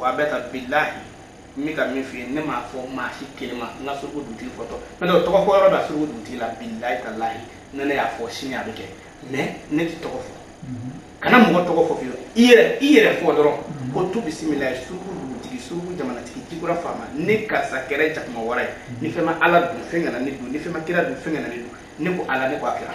wa a bɛ taa bilahi n bɛ ka min f'i ye ne m'a fɔ maa si kelen ma nka suruku dugutigi fɔtɔ n'o tɛ o tɔgɔ fɔ yɔrɔ bɛ suruku dugutigi la bilahi talahi ne ne y'a fɔ sini a bɛ kɛ mɛ ne tɛ tɔgɔ fɔ kana mɔgɔ tɔgɔ fɔ fiyewu i yɛrɛ i yɛrɛ fɔ dɔrɔn ko tu bisimila suruku dugutigi suruku jamanatigi jikura faama ne karisa kɛra jakuma wara ye ni fɛn ma ala dun fɛn kana ne dun ni fɛn ma kira dun fɛn kana ne dun ne ko ala ne ko a kira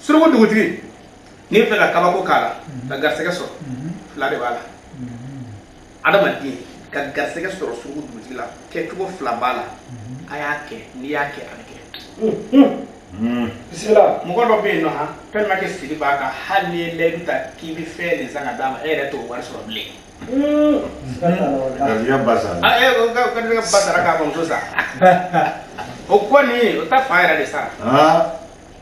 suruku dugutigi n'i fɛ ka kabako k'a la mhm. ka garisɛgɛ sɔrɔ mhm. fila de b'a la mhm. adamaden ka garisɛgɛ sɔrɔ suruku dugutigi la kɛcogo fila b'a la a y'a kɛ n'i y'a kɛ a bɛ kɛ bisimila mɔgɔ dɔ bɛ yen nɔ han fɛn ma kɛ siri b'a kan hali n'i ye layidu ta k'i bɛ fɛn de san ka d'a ma e yɛrɛ t'o wari sɔrɔ bilen garisɛgɛ ba sara ah, eh, garisɛgɛ ba sara k'a bamuso sa o ko nin o ta fa yɛrɛ de sara ah.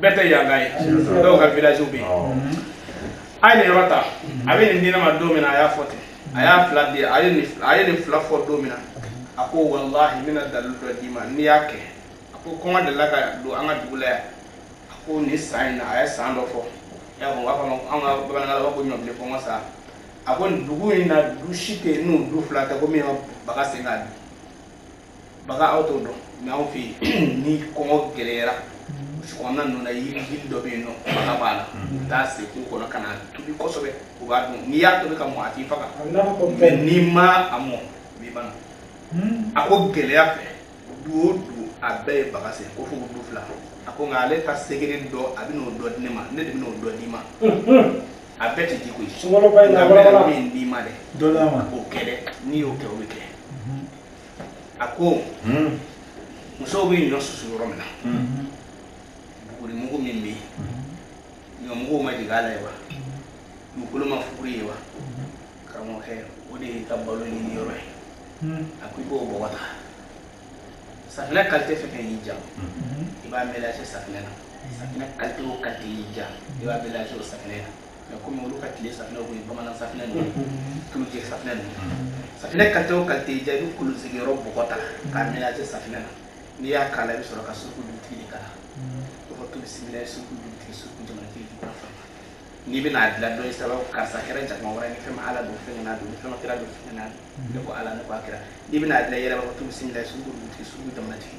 bɛɛ tɛ yanka ye dɔw ka village bɛ yen a ye nin yɔrɔ ta a bɛ nin di ne ma don min na a y'a fɔ ten a y'a fila di a ye nin a ye nin fila fɔ don min na a ko walahi n bɛna dalilu dɔ d'i ma n'i y'a kɛ a ko kɔngɔ delila ka don an ka dugu la yan a ko nin san in na a ye san dɔ fɔ y'a fɔ u b'a fɔ ma an ka bamanankan na u b'a fɔ ko ɲɔbilen kɔngɔ san a ko nin dugu in na du si tɛ yen ni du fila tɛ ko min ma baga sen k'a dun baga aw t'o dɔn mɛ anw fɛ yen ni kɔngɔ gɛlɛyara kɔnɔna ninnu na yiri yiri dɔ bɛ yen nɔ baga b'a la u bɛ taa sen kungo kɔnɔ ka na tobi kosɛbɛ u b'a dun n'i y'a tobi ka mɔ a t'i faga mɛ n'i ma a mɔ a b'i ban a ko gɛlɛya fɛ du o du a bɛɛ ye baga sen ko fo du fila a ko nka ale ta secret dɔ a bɛn'o dɔ di ne ma ne de bɛn'o dɔ d'i ma a bɛɛ tɛ di koyi nka n bɛ min d'i ma dɛ o kɛ dɛ n'i y'o kɛ o bɛ kɛ a ko musow bɛ ɲɔ susu yɔrɔ min na buguri mugu min bɛ yen ɲɔ mugu ma jigin a la yen wa mugu dɔ ma fuguri yen wa karamɔgɔkɛ o de y'i ka balo ɲini yɔrɔ ye a ko i b'o bɔgɔ ta safinɛ kalite fɛn fɛn y'i ja i b'a mélange safinɛ na safinɛ kalite o kalite y'i ja i b'a mélange o safinɛ na mais comme olu ka tile safinɛ tun ye bamanan safinɛ ninnu tulujɛ safinɛ ninnu safinɛ kalite o kalite y'i ja i bɛ kolonsigiyɔrɔ bɔgɔ ta k'a mélange safinɛ na n'i y'a k'a la i bɛ sɔrɔ ka suruku dugutigi de k'a la i b'a fɔ tu bisimilayi suruku dugutigi suruku jamanatigi jikura faama n'i bɛna a dilan dɔ ye sababu karisa kɛra jakuma wara ni fɛn ma ala dun fɛn kana dun ni fɛn ma kira dun fɛn kana dun ne ko ala ne ko a kira n'i bɛna a dilan i yɛrɛ b'a fɔ tu bisimilayi suruku dugutigi suruku jamanatigi